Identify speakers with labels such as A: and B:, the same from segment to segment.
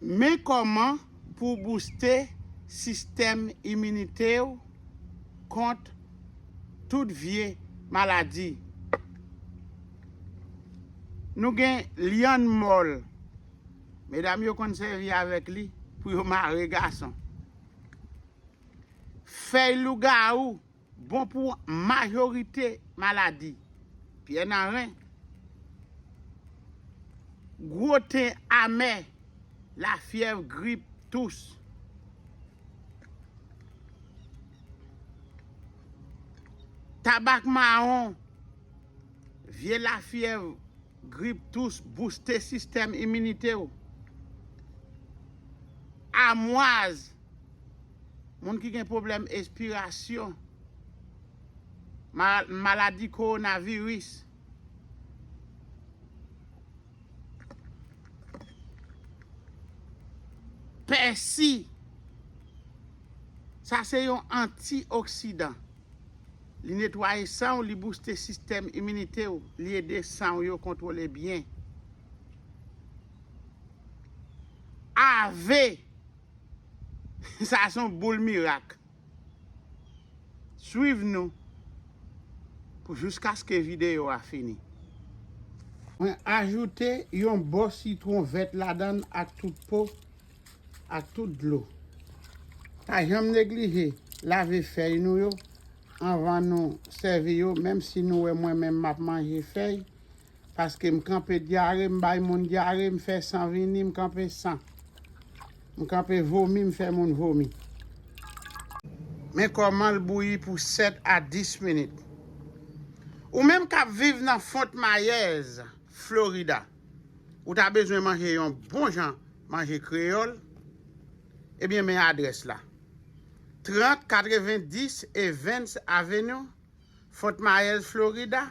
A: Men kòman pou w bouste sistèm iminite w kont tout vye maladi. Nou gen lyann mòl. Medam yo konn sèvi avèk li pou yo mare gason. Fèy lougawou Bon pou majorite maladi. Pyè Naren. Gwo ten amè, lafyèv, grip, tous. Tabak mawon, vye lafyèv, grip, tous, bouste sistèm iminite w. Amwaz. Moun ki gen pwoblèm espirasyon, maladi kowonaviris. Pèsi, sa se yon antioksidan. Li netwaye san w, li bouste sistèm iminite w, li ede san w yo kontwole byen. Ave. Sa a son boul mirak. Swiv nou pou jouskaske videyo a fini. Mwen ajoute yon bò sitwon vèt ladann ak tout po ak tout dlo. Pa janm neglije lave fèy nou yo anvan nou sèvi yo menm si nou wè mwen menm map manje fèy Paske m kanpe dyare m bay moun dyare m fè san vini m kanpe san m kanpe vomi m fè moun vomi. Men kòmanl bouyi pou 7 a 10 minit. Ou menm kap viv nan Font Myers, Florida, ou ta bezwen manje yon bon jan manje kreyòl? Ebyen men adrès la, 3090 Evans Avenue, Fort Myers, Florida,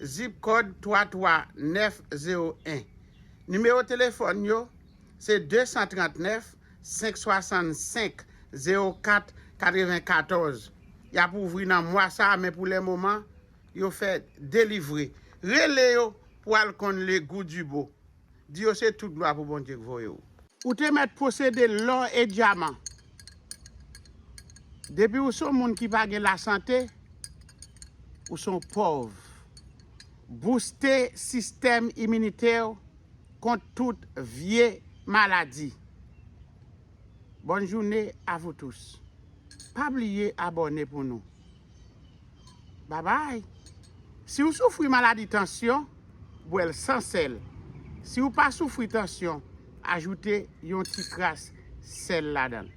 A: Zip Kòd 33901. Nimewo telefòn yo se 239 565 04 94. Y ap ouvri nan mwa sa a men pou le moman yo fè delivre. Rele yo pou al konn le gou du beau. Di yo se tout glwa pou Bondye k voye w. Ou te mèt posede lò e dyaman. Depi ou son moun ki pa gen lasante, ou son pòv. Bouste sistèm iminite w kont tout vye maladi. Bonne journée à vous tous. Pa bliye abòne pou nou. Babay. Si w soufri maladi tansyon, bwè l san sèl. Si w pa soufri tansyon, ajoute yon ti kras sèl ladan l.